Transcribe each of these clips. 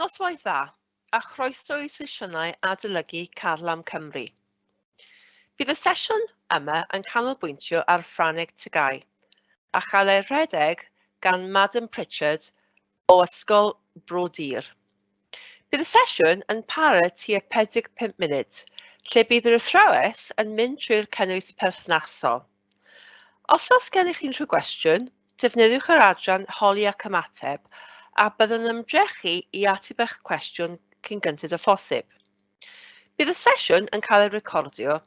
Noswaith dda, a chroeso i sesiynau adolygu Carlam Cymru. Bydd y sesiwn yma yn canolbwyntio ar Ffrangeg Tygau, a chael ei rhedeg gan Madam Pritchard o Ysgol Bro Dur. Bydd y sesiwn yn para tua 45 munud, lle bydd yr athrawes yn mynd trwy'r cynnwys perthnasol. Os oes gennych chi unrhyw gwestiwn, defnyddiwch yr adran Holi ac Ymateb a byddwn yn ymdrechu i ateb eich cwestiwn cyn gynted â phosib. Bydd y sesiwn yn cael ei recordio,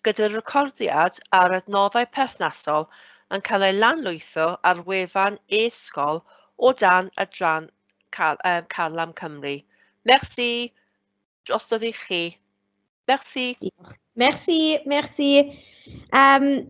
gyda'r recordiad a'r adnoddau perthnasol yn cael ei lanlwytho ar wefan e-sgol o dan adran Car um, Carlam Cymru. Merci, drostodd i chi. Merci. Merci, merci. Um,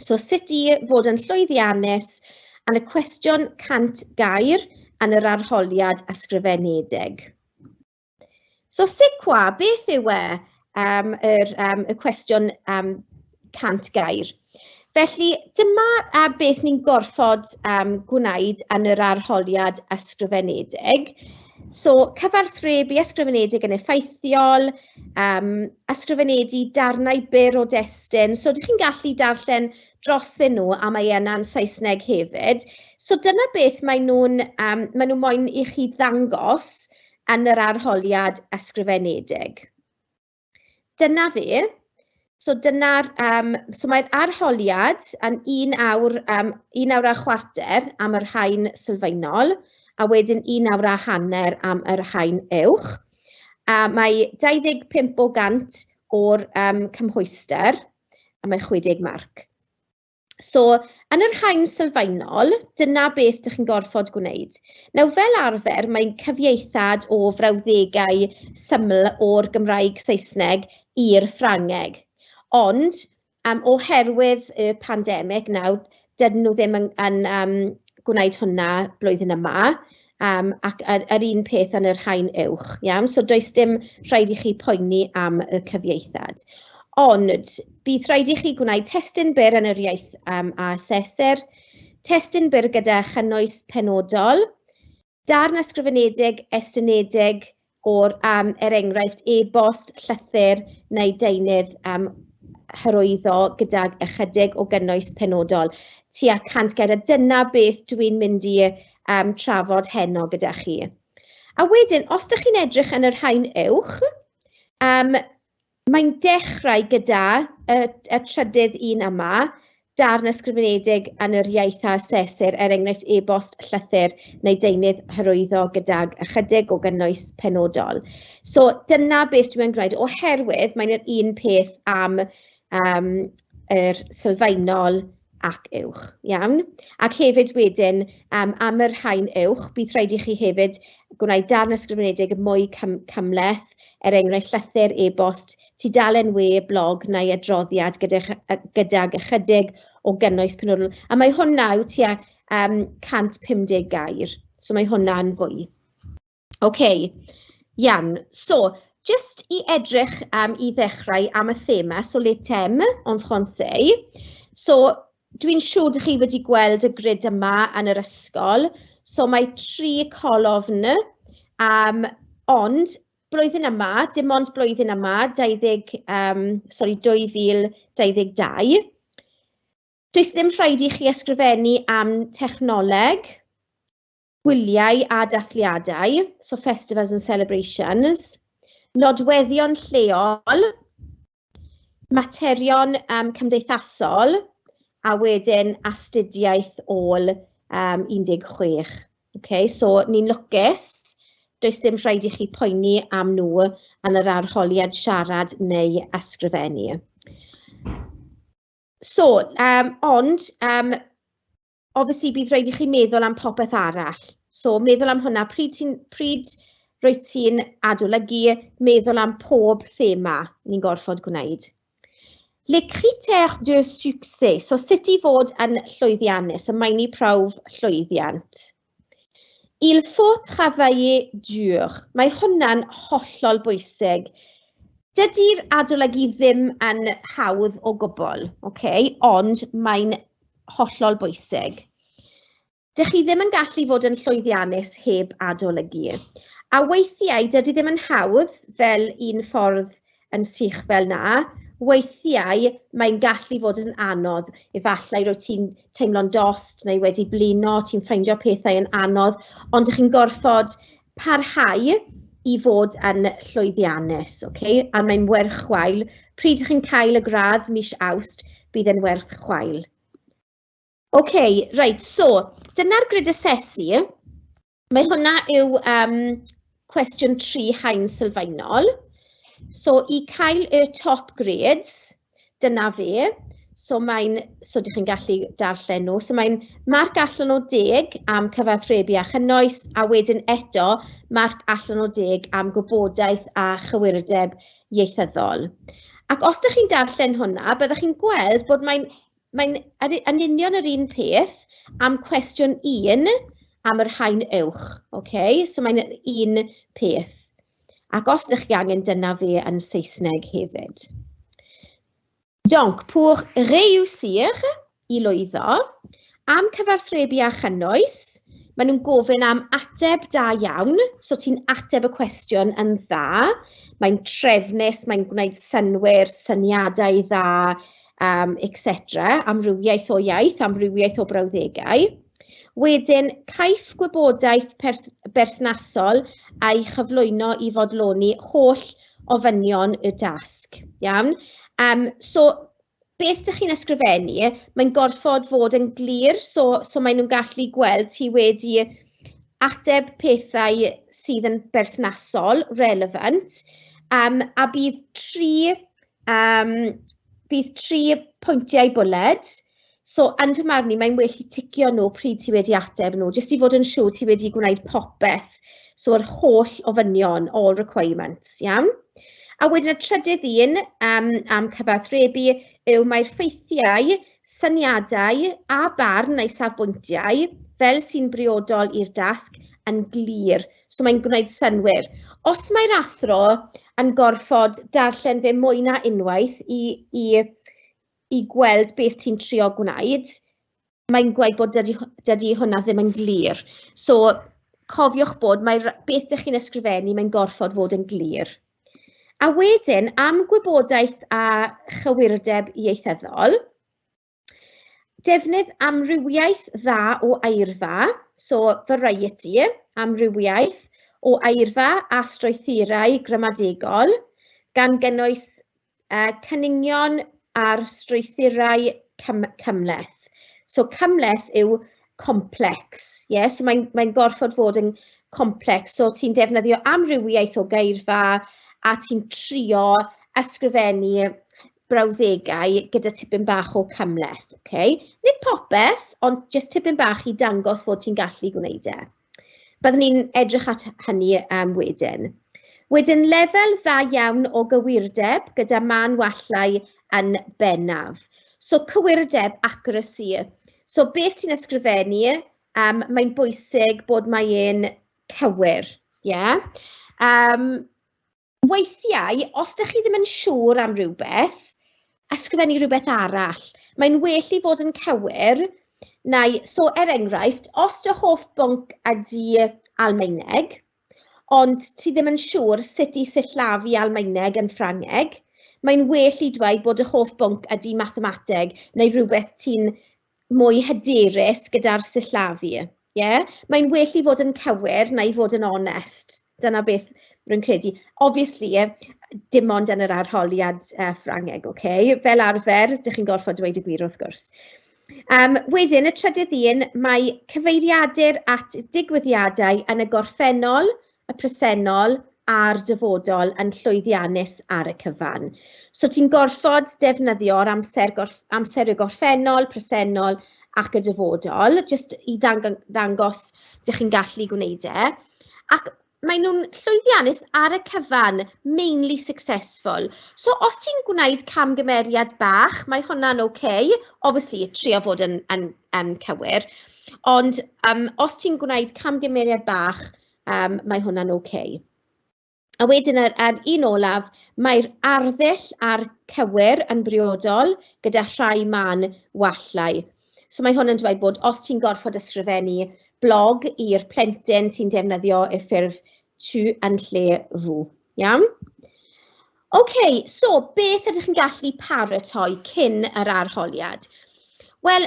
So sut i fod yn llwyddiannus yn y cwestiwn 100 gair yn yr arholiad ysgrifenedig. So sicwa, beth yw e um, yr, um, y cwestiwn um, 100 gair? Felly dyma a beth ni'n gorfod um, gwneud yn yr arholiad ysgrifenedig. So cyfarthrebu ysgrifenedig yn effeithiol, um, ysgrifenedig darnau byr o destun. So, ydych chi'n gallu darllen drosyn nhw a mae yna'n Saesneg hefyd. So, dyna beth mae nhw'n um, mae nhw moyn i chi ddangos yn yr arholiad ysgrifenedig. Dyna fe. So dyna'r, um, so mae'r arholiad yn un awr, um, un awr a chwarter am yr hain sylfaenol, a wedyn un awr a hanner am yr hain uwch. A mae 25 o gant o'r um, cymhwyster, a mae 60 marc. So, yn yr hain sylfaenol, dyna beth dych chi'n gorfod gwneud. Nawr, fel arfer, mae'n cyfieithad o frawddegau syml o'r Gymraeg Saesneg i'r Ffrangeg. Ond, um, oherwydd y pandemig nawr, dydyn nhw ddim yn, yn um, gwneud hwnna blwyddyn yma. Um, ac yr, yr un peth yn y rhain uwch, iawn? So does dim rhaid i chi poeni am y cyfieithad. Ond bydd rhaid i chi gwneud testun byr yn yr iaith um, a aseser, testun byr gyda chynnwys penodol, darn ysgrifenedig, estynedig, o'r um, er enghraifft e-bost, llythyr neu deunydd um, hyrwyddo gydag ychydig o gynnwys penodol tua 100 gair a dyna beth dwi'n mynd i um, trafod heno gyda chi. A wedyn, os ydych chi'n edrych yn yr rhain uwch, um, Mae'n dechrau gyda y, y trydydd un yma, darn ysgrifenedig yn yr iaith a asesir, er enghraifft e-bost, llythyr neu deunydd hyrwyddo gydag ychydig o gynnwys penodol. So dyna beth dwi'n gwneud, oherwydd mae'n yr un peth am um, yr sylfaenol ac uwch. Iawn? Ac hefyd wedyn, um, am yr rhain uwch, bydd rhaid i chi hefyd gwneud darn ysgrifenedig mwy cym cymleth, er enghraifft llythyr, e-bost, tudalen we, blog neu adroddiad gydag, gydag ychydig o gynnwys penodol. A mae hwnna yw tua um, 150 gair, so mae hwnna'n fwy. Ok iawn, so jyst i edrych yym i ddechrau am y thema, so les thèmes en français. So dwi'n siŵr dach chi wedi gweld y grid yma yn yr ysgol, so mae tri colofn yym ond blwyddyn yma, dim ond blwyddyn yma, 20 yym sori 2022, does dim rhaid i chi ysgrifennu am technoleg, gwyliau a dathliadau, so festivals and celebrations, nodweddion lleol, materion um, cymdeithasol, a wedyn astudiaeth ôl um, 16. Okay, so ni'n lwcus, does dim rhaid i chi poeni am nhw yn yr arholiad siarad neu ysgrifennu. So, um, ond um, obviously bydd rhaid i chi meddwl am popeth arall. So meddwl am hwnna, pryd, ti'n, pryd rwyt ti'n adolygu, meddwl am pob thema ni'n gorfod gwneud. Le critères de succès, so sut i fod yn llwyddiannus, y maen ni prawf llwyddiant. Il faut travailler dur. Mae hwnna'n hollol bwysig. Dydy'r adolygu ddim yn hawdd o gwbl, okay? ond mae'n hollol bwysig. Dych chi ddim yn gallu fod yn llwyddiannus heb adolygu. A weithiau, dydy ddim yn hawdd fel un ffordd yn sych fel 'na, weithiau mae'n gallu fod yn anodd. Efallai rwyt ti'n teimlo'n dost neu wedi blino, ti'n ffeindio pethau yn anodd, ond chi'n gorfod parhau i fod yn llwyddiannus, ok? A mae'n werth chwail. Pryd chi'n cael y gradd mis Awst, bydd e'n werth chwail. Ok, right, so dyna'r grid asesu. Mae hwnna yw um, cwestiwn tri hain sylfaenol. So i cael y top grades, dyna fe. So mae'n, so ydych chi'n gallu darllen nhw. So mae'n marc allan o deg am cyfathrebu a chynnwys, a wedyn eto marc allan o deg am gwybodaeth a chywirdeb ieithyddol. Ac os ydych chi'n darllen hwnna, byddwch chi'n gweld bod mae'n Mae'n yn union yr un peth am cwestiwn 1 am yr haen uwch. Okay? So mae'n un peth. Ac os ydych chi angen dyna fe yn Saesneg hefyd. Donc, pour réussir, i lwyddo, am cyfarthrebu a chynnwys, maen nhw'n gofyn am ateb da iawn, so ti'n ateb y cwestiwn yn dda, mae'n trefnus, mae'n gwneud synwyr, syniadau dda, um, etc. Amrywiaeth o iaith, amrywiaeth o brawddegau. Wedyn, caiff gwybodaeth berthnasol a'i chyflwyno i fodloni holl ofynion y dasg. Iawn? Um, so, beth ydych chi'n ysgrifennu, mae'n gorfod fod yn glir, so, so maen nhw'n gallu gweld ti wedi ateb pethau sydd yn berthnasol, relevant, um, a bydd tri Yym bydd tri pwyntiau bwled, so yn fy marn i mae'n well i ticio nhw pryd ti wedi ateb nhw, jyst i fod yn siŵr ti wedi gwneud popeth, so yr holl ofynion, all requirements, iawn? A wedyn y trydydd un yym am cyfathrebu yw mae'r ffeithiau, syniadau a barn neu safbwyntiau fel sy'n briodol i'r dasg yn glir. So mae'n gwneud synwyr. Os mae'r athro yn gorfod darllen fe mwy na unwaith i, i, i gweld beth ti'n trio gwneud, mae'n gweud bod dydy, dydy hwnna ddim yn glir. So cofiwch bod mae beth dych chi'n ysgrifennu, mae'n gorfod fod yn glir. A wedyn, am gwybodaeth a chywirdeb ieithyddol, Defnydd amrywiaeth dda o eirfa, so variety, amrywiaeth o eirfa a strwythurau gramadegol, gan gynnwys uh, cynnigion ar strwythurau cym cymleth. So cymleth yw complex, yeah? so mae'n mae gorfod fod yn complex, so ti'n defnyddio amrywiaeth o geirfa a ti'n trio ysgrifennu brawddegau gyda tipyn bach o cymhleth, ok? Nid popeth, ond jyst tipyn bach i dangos fod ti'n gallu gwneud e. Byddwn ni'n edrych at hynny um, wedyn. Wedyn, lefel dda iawn o gywirdeb gyda man wallau yn bennaf. So, cywirdeb, accuracy. So, beth ti'n ysgrifennu, um, mae'n bwysig bod mae'n cywir, ie? Yeah? Um, Weithiau, os dych chi ddim yn siŵr am rywbeth, ysgrifennu rhywbeth arall. Mae'n well i fod yn cywir, neu, so er enghraifft, os dy hoff bwnc ydy Almaeneg, ond ti ddim yn siŵr sut i sillafu Almaeneg yn Ffrangeg, mae'n well i dweud bod dy hoff bwnc ydy mathemateg neu rhywbeth ti'n mwy hyderus gyda'r sillafu. Ie? Yeah? Mae'n well i fod yn cywir na i fod yn onest. Dyna beth rwy'n credu. Obviously, dim ond yn yr arholiad uh, Ffrangeg, oce? Okay? Fel arfer, dych chi'n gorfod dweud y gwir wrth gwrs. Um, wedyn, y trydydd un, mae cyfeiriadur at digwyddiadau yn y gorffennol y presennol a'r dyfodol yn llwyddiannus ar y cyfan. So ti'n gorfod defnyddio'r amser, gorff, amser y gorffennol, presennol ac y dyfodol, jyst i ddangos dych chi'n gallu gwneud e. Ac maen nhw'n llwyddiannus ar y cyfan, mainly successful. So os ti'n gwneud camgymeriad bach, mae hwnna'n oce. Okay. Obviously, trio fod yn, yn, yn cywir. Ond um, os ti'n gwneud camgymeriad bach, yym mae hwnna'n ok. A wedyn yr a'r un olaf, mae'r arddull a'r cywir yn briodol gyda rhai mân wallau. So mae hwn yn dweud bod os ti'n gorfod ysgrifennu blog i'r plentyn ti'n defnyddio y ffurf tu yn lle fw. Iawn? OK, so beth ydych chi'n gallu paratoi cyn yr arholiad? Wel,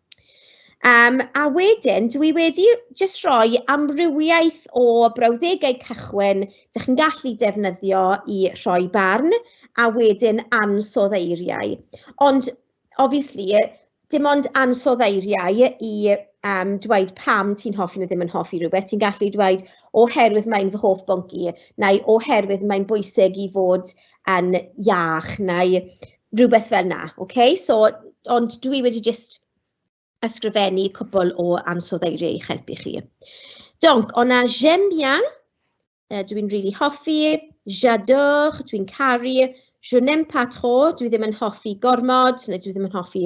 Yym a wedyn, dwi wedi jyst rhoi amrywiaeth o brawddegau cychwyn dach chi'n gallu defnyddio i rhoi barn, a wedyn ansoddeiriau eiriau. Ond obviously dim ond ansoddeiriau eiriau i yym dweud pam ti'n hoffi neu ddim yn hoffi rhywbeth, ti'n gallu dweud oherwydd mae'n fy hoff bwnc i, neu oherwydd mae'n bwysig i fod yn iach, neu rywbeth fel 'na, ocê? So, ond dwi wedi jyst ysgrifennu cwpl o ansoddeiriau i'ch helpu chi. Donc, on a j'aime bien, uh, dwi'n rili really hoffi, j'adore, dwi'n caru, je n'aime pas trop, dwi ddim yn hoffi gormod, neu dwi ddim yn hoffi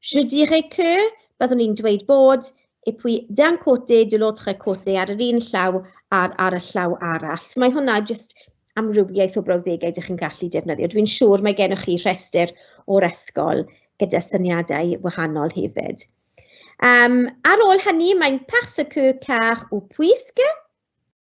Je dirais que, byddwn i'n dweud bod, et puis d'un côté, de l'autre côté, ar yr un llaw a'r ar y llaw arall. So mae hwnna jyst amrywiaeth o brawddegau ydych chi'n gallu defnyddio. Dwi'n siŵr mae gennych chi rhestr o'r ysgol gyda syniadau wahanol hefyd. Um, ar ôl hynny, mae'n parce que, car ou puisque.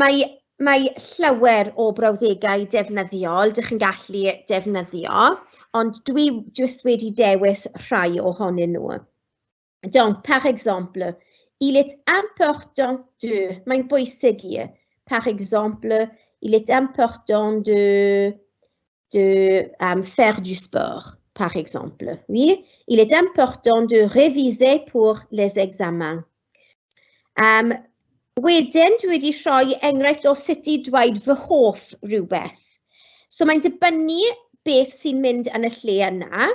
Mae mae llawer o brawddegau defnyddiol dach chi'n gallu defnyddio, ond dwi jyst wedi dewis rhai ohonyn nhw. Donc, par exemple, il est important de, mae'n bwysig i, par exemple, il est important de de euh, faire du sport, par exemple. Oui, il est important de réviser pour les examens. Um, wedyn, dwi wedi rhoi enghraifft o sut i dweud fy hoff rhywbeth. So mae'n dibynnu beth sy'n mynd yn y lle yna.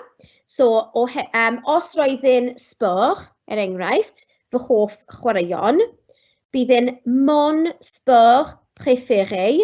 So, o, um, os roedd yn sport, er enghraifft, fy hoff chwaraeon, bydd yn mon sport préféré,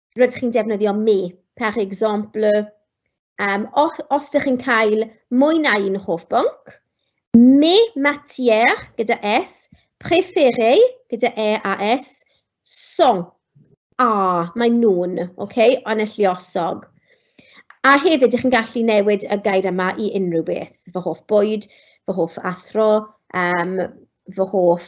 rydych chi'n defnyddio me, par exemple, um, os, os ydych chi'n cael mwy na un hoff bwnc, me matière gyda S, préféré gyda E a S, song, a, mae nhw'n, oce, okay, yn y lliosog. A hefyd, ydych chi'n gallu newid y gair yma i unrhyw beth, fy hoff bwyd, fy hoff athro, um, fy hoff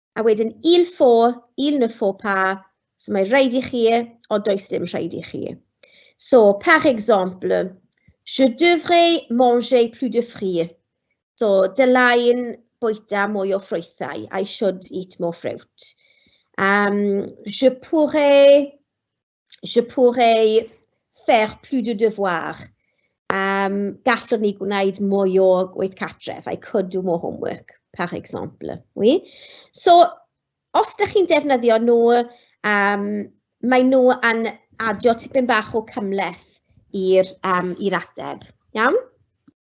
A wedyn il faut, il ne faut pas, so mae rhaid i chi, o does dim rhaid i chi. So, par exemple, je devrais manger plus de fruits. So, dylai'n bwyta mwy o ffrwythau, I should eat more fruit. Um, je pourrais je pourrais faire plus de devoir. Um, gallwn ni gwneud mwy o gweith catref. I could do more homework, par exemple. Oui? So, os da chi'n defnyddio nhw, um, mae nhw yn adio tipyn bach o cymleth i'r um, ateb. Iawn?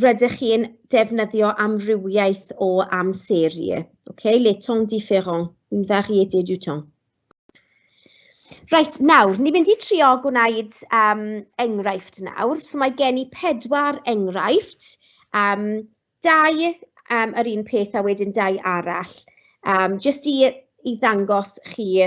rydych chi'n defnyddio amrywiaeth o amserie. Okay? Les temps différents, une variété du temps. Reit, nawr, ni'n mynd i trio gwneud um, enghraifft nawr. So mae gen i pedwar enghraifft, um, dau um, yr un peth a wedyn dau arall, um, jyst i, i ddangos chi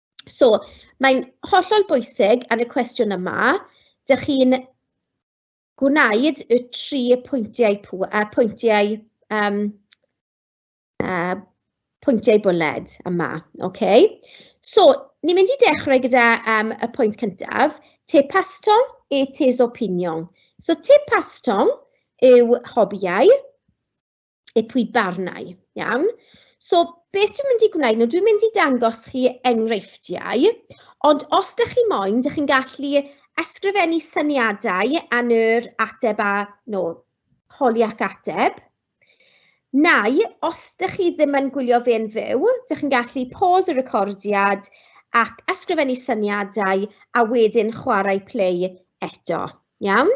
So, mae'n hollol bwysig yn y cwestiwn yma, dych chi'n gwneud y tri pwyntiau, pw, uh, pwyntiau, um, uh, pwyntiau bwled yma. Okay? So, ni'n mynd i dechrau gyda um, y pwynt cyntaf, te pastong e tes opinion. So, te pastong yw hobiau, eu pwy barnau. Iawn? So, beth dwi'n mynd i gwneud? No, dwi'n mynd i dangos chi enghreifftiau, ond os ydych chi moyn, ydych chi'n gallu ysgrifennu syniadau yn yr ateb a no, holi ac ateb. Nau, os ydych chi ddim yn gwylio fe'n fyw, ydych chi'n gallu pause y recordiad ac ysgrifennu syniadau a wedyn chwarae play eto. Iawn?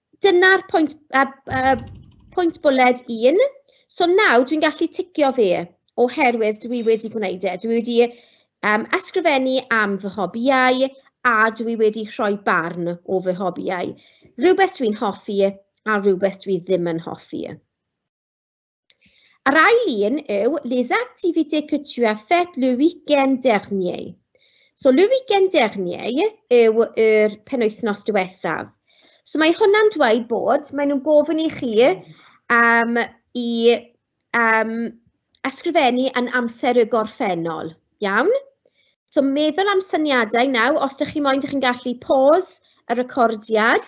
Dyna'r pwynt yy yy pwynt bwled un. So nawr dwi'n gallu ticio fe oherwydd dwi wedi gwneud e. Dwi wedi yym ysgrifennu am fy hobïau a dwi wedi rhoi barn o fy hobïau. Rhywbeth dwi'n hoffi a rhywbeth dwi ddim yn hoffi. Yr ail un yw les activités que tu as faites le week-end dernier. So le week-end dernier yw yr penwythnos diwethaf. So mae hwnna'n dweud bod, maen nhw'n gofyn i chi um, i um, ysgrifennu yn amser y gorffennol. Iawn? So meddwl am syniadau nawr, os ydych chi moyn, ydych chi'n gallu pause y recordiad.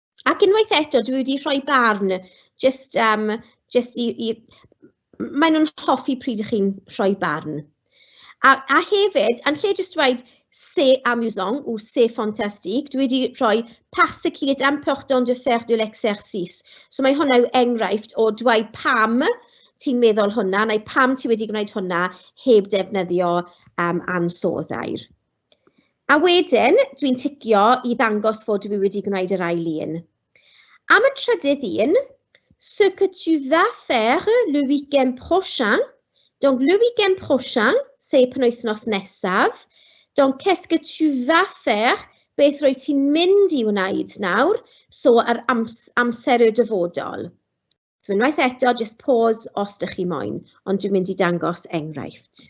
Ac unwaith eto, dwi wedi rhoi barn jyst am... jyst i i... maen nhw'n hoffi pryd chi'n rhoi barn. A a hefyd, yn lle jyst dweud c'est amusant ou c'est fantastique, dwi wedi rhoi parce qu'il est important de faire de l'exercice. So mae hwnna yw enghraifft o dweud pam ti'n meddwl hwnna neu pam ti wedi gwneud hwnna heb ddefnyddio yym ansoddair. A wedyn, dwi'n ticio i ddangos fod dwi wedi gwneud yr ail un. Am y trydydd un, ce que tu vas faire le week-end prochain? Donc, le week-end prochain, sef penwythnos nesaf. Donc, qu'est-ce que tu vas faire? Beth rwy ti'n mynd i wneud nawr? So, yr ams amser y dyfodol. So, unwaith eto, just pause os ydych chi moyn, ond dwi'n mynd i dangos enghraifft.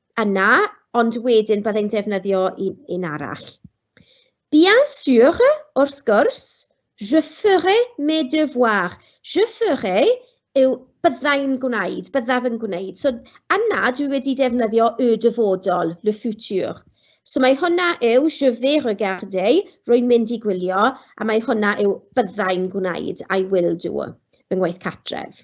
yna, ond wedyn byddai'n defnyddio un, un arall. Bien sûr, wrth gwrs, je ferai mes devoirs. Je ferai yw byddai'n gwneud, byddaf yn gwneud. So yna dwi wedi defnyddio y dyfodol, le futur. So mae hwnna yw je vais regarder, rwy'n mynd i gwylio, a mae hwnna yw byddai'n gwneud, I will do, fy ngwaith cartref.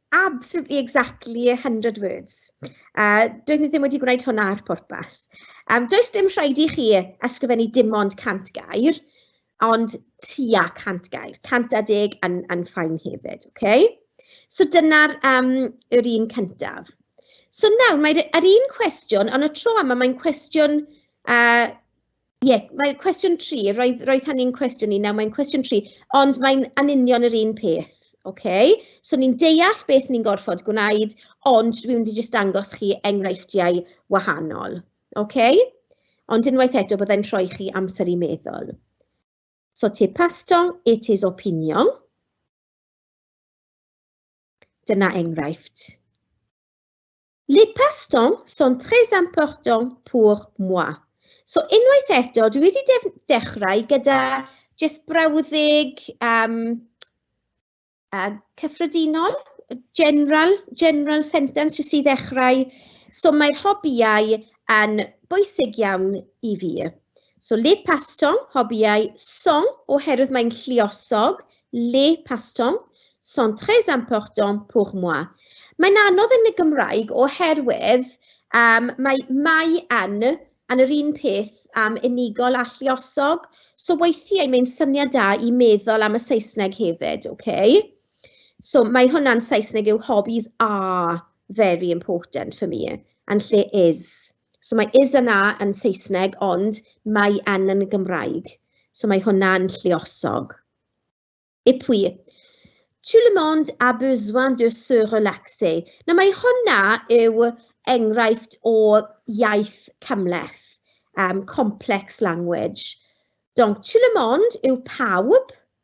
Absolutely exactly a hundred words. A doeddwn i ddim wedi gwneud hwnna ar pwrpas. Yym does dim rhaid i chi ysgrifennu dim ond 100 gair, ond tua 100 gair. 110 yn yn fine hefyd, ocê? So dyna'r yym yr un cyntaf. So nawr mae'r yr un cwestiwn, ond y tro yma mae'n cwestiwn yy Ie, mae cwestiwn tri, roedd roedd hynny'n cwestiwn i, nawr mae'n cwestiwn tri, ond mae'n yn union yr un peth, ocê? So ni'n deall beth ni'n gorfod gwneud, ond dwi'n mynd i jyst dangos chi enghreifftiau wahanol, ocê? Ond unwaith eto, byddai'n rhoi chi amser i meddwl. So te pastong, it is opinion. Dyna enghraifft. Les passe-temps sont très importants pour moi. So unwaith eto, dwi wedi def dechrau gyda jyst brawddeg um, uh, cyffredinol, general, general sentence jyst i ddechrau. So mae'r hobiau yn bwysig iawn i fi. So le pastong, hobïau, song, oherwydd mae'n lliosog, le pastong, sont très importants pour moi. Mae'n anodd yn y Gymraeg oherwydd um, mae mai yn yn yr un peth am um, unigol a lliosog, so weithiau mae'n syniad da i meddwl am y Saesneg hefyd, okay? So mae hwnna'n Saesneg yw hobbies are very important for me yn lle is. So mae is yna yn Saesneg ond mae yn yn Gymraeg. So mae hwnna'n lluosog. Et puis, tout le monde a besoin de se relaxer. Nawr mae hwnna yw enghraifft o iaith cymleth, um, complex language. Donc, tout le monde yw pawb,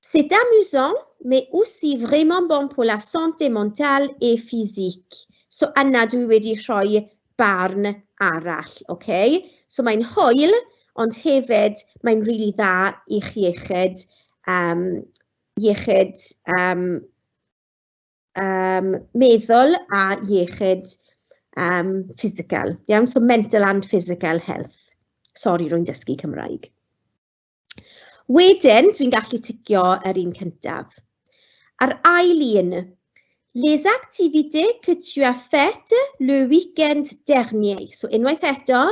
C'est amusant, mais aussi vraiment bon pour la santé mentale et physique. So yna dwi wedi rhoi barn arall, ok? So mae'n hwyl, ond hefyd mae'n rili really dda i'ch iechyd, um, iechyd um, um, meddwl a iechyd um, physical. Iawn, so mental and physical health. Sorry, rwy'n dysgu Cymraeg. Wedyn, dwi'n gallu ticio yr un cyntaf. A'r ail un, les activités que tu as faites le week-end dernier. So unwaith eto,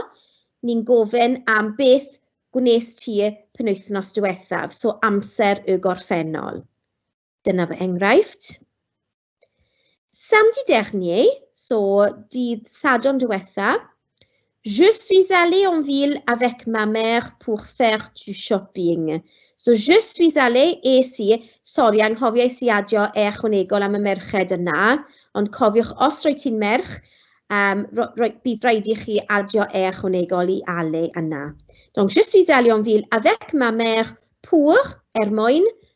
ni'n gofyn am beth gwnes ti penwythnos diwethaf, so amser y gorffennol. Dyna fy enghraifft. Samedi dernier, so dydd Sadwrn diwetha, je suis allé en ville avec ma mère pour faire du shopping. So je suis allé, es i, sori, anghofiais i adio e ychwanegol am y merched yna, ond cofiwch, os roi ti'n merch, um, ro, ro, bydd rhaid i chi adio e ychwanegol i allé yna. Donc je suis allé en ville avec ma mère pour, er mwyn,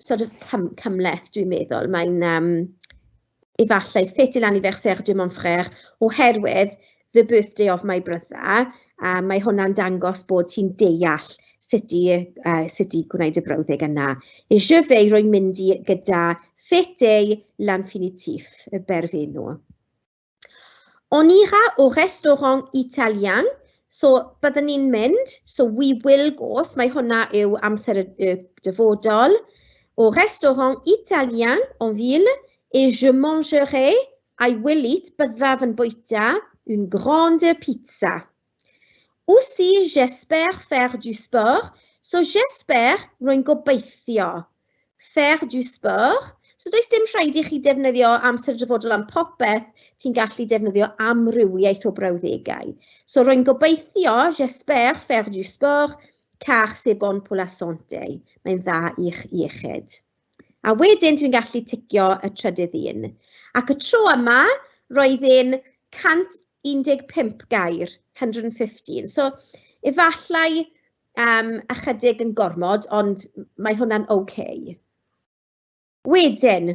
sort of cym cymleth, dwi'n meddwl. Mae'n um, efallai ffit i l'anniversaire de mon frère oherwydd the birthday of my brother, a mae hwnna'n dangos bod ti'n deall sut i, uh, sut i gwneud y brawddeg yna. E je vais rwy'n mynd i gyda ffit ei lanfinitif, y berfenw. On ira au restaurant italien, so byddwn ni'n mynd, so we will go, so mae hwnna yw amser y, y dyfodol. Au restaurant italien en ville, et je mangerai, I will eat, byddaf yn bwyta, une grande pizza, Aussi j'espère faire du sport, so j'espère, rwy'n gobeithio. Faire du sport, so does dim rhaid i chi defnyddio amser dyfodol am popeth, ti'n gallu defnyddio amrywiaeth o brawddegau. So rwy'n gobeithio, j'espère faire du sport, car c'est bon pour la santé. Mae'n dda i'ch iechyd. A wedyn dwi'n gallu ticio y trydydd un. Ac y tro yma, roedd e'n 115 gair, 115. So, efallai um, ychydig yn gormod, ond mae hwnna'n OK. Wedyn,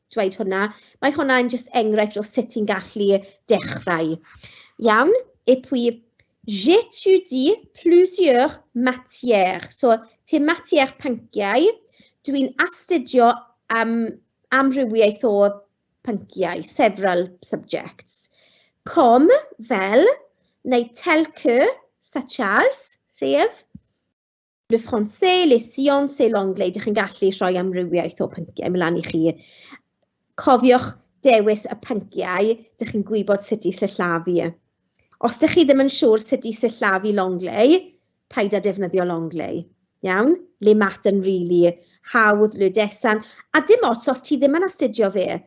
dweud hwnna. Mae hwnna'n jyst enghraifft o sut ti'n gallu dechrau. Iawn? Et puis, j'étudie plusieurs matières. So, te matières pynciau, dwi'n astudio am amrywiaeth o pynciau, several subjects. Com, fel, neu tel que, such as, sef, le français, le sciences et l'anglais. Dych chi'n gallu rhoi amrywiaeth o pynciau mlaen i chi. Cofiwch dewis y pynciau dych chi'n gwybod sut i sillafu. Os dych chi ddim yn siŵr sut i sillafu l'anglais, paid â defnyddio l'anglais. Iawn? Le maths yn rili hawdd, le desan. A dim ots os ti ddim yn astudio fe.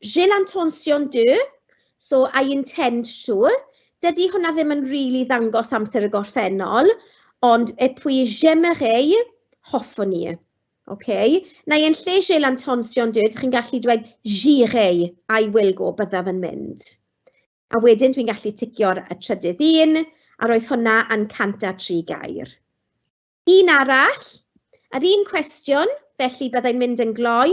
J'ai l'intention de, so I intend to. Dydy hwnna ddim yn rili ddangos amser y gorffennol, ond et puis j'aimerais, hoffwn i. Oce? Neu yn lle j'ai l'intention de, dych chi'n gallu dweud j'irai, I will go, byddaf yn mynd. A wedyn dwi'n gallu ticio'r y trydydd un, a roedd hwnna yn 103 gair. Un arall, yr un cwestiwn, felly byddai'n mynd yn gloi.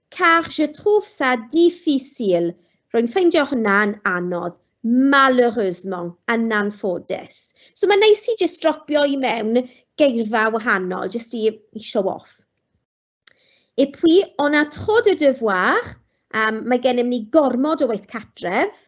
Car je trouve ça difficile. Rwy'n ffeindio hwnna'n anodd. Malheureusement, yn anffodus. So mae'n neis i jyst dropio i mewn geirfa wahanol, jyst i, i show off. Et puis, on a trop de devoirs, um, mae gennym ni gormod o waith catref.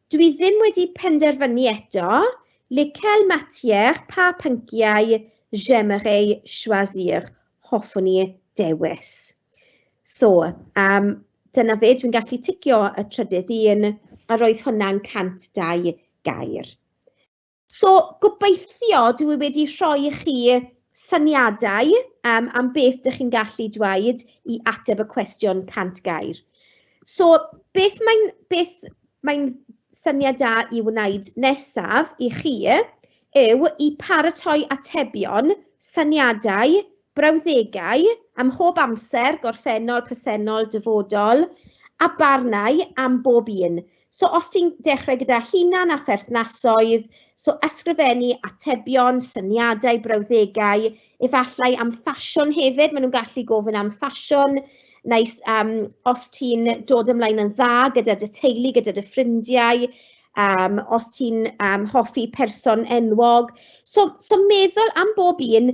Dwi ddim wedi penderfynu eto. Lequel matière, pa pynciau, j'aimerais choisir, hoffwn i dewis. So, um, dyna fe, dwi'n gallu ticio y trydydd un, a roedd hwnna'n 102 gair. So, gobeithio dwi wedi rhoi i chi syniadau um, am beth dych chi'n gallu dweud i ateb y cwestiwn 100 gair. So, beth mae'n beth mae'n syniad da i wneud nesaf i chi yw i paratoi atebion, syniadau, Brawddegau ym mhob amser, gorffennol, presennol, dyfodol, a barnau am bob un. So os ti'n dechrau gyda hunan a pherthnasoedd, so ysgrifennu atebion, syniadau, brawddegau, efallai am ffasiwn hefyd, maen nhw'n gallu gofyn am ffasiwn, neu um, os ti'n dod ymlaen yn dda gyda dy teulu, gyda dy ffrindiau, um, os ti'n um, hoffi person enwog. So, so meddwl am bob un,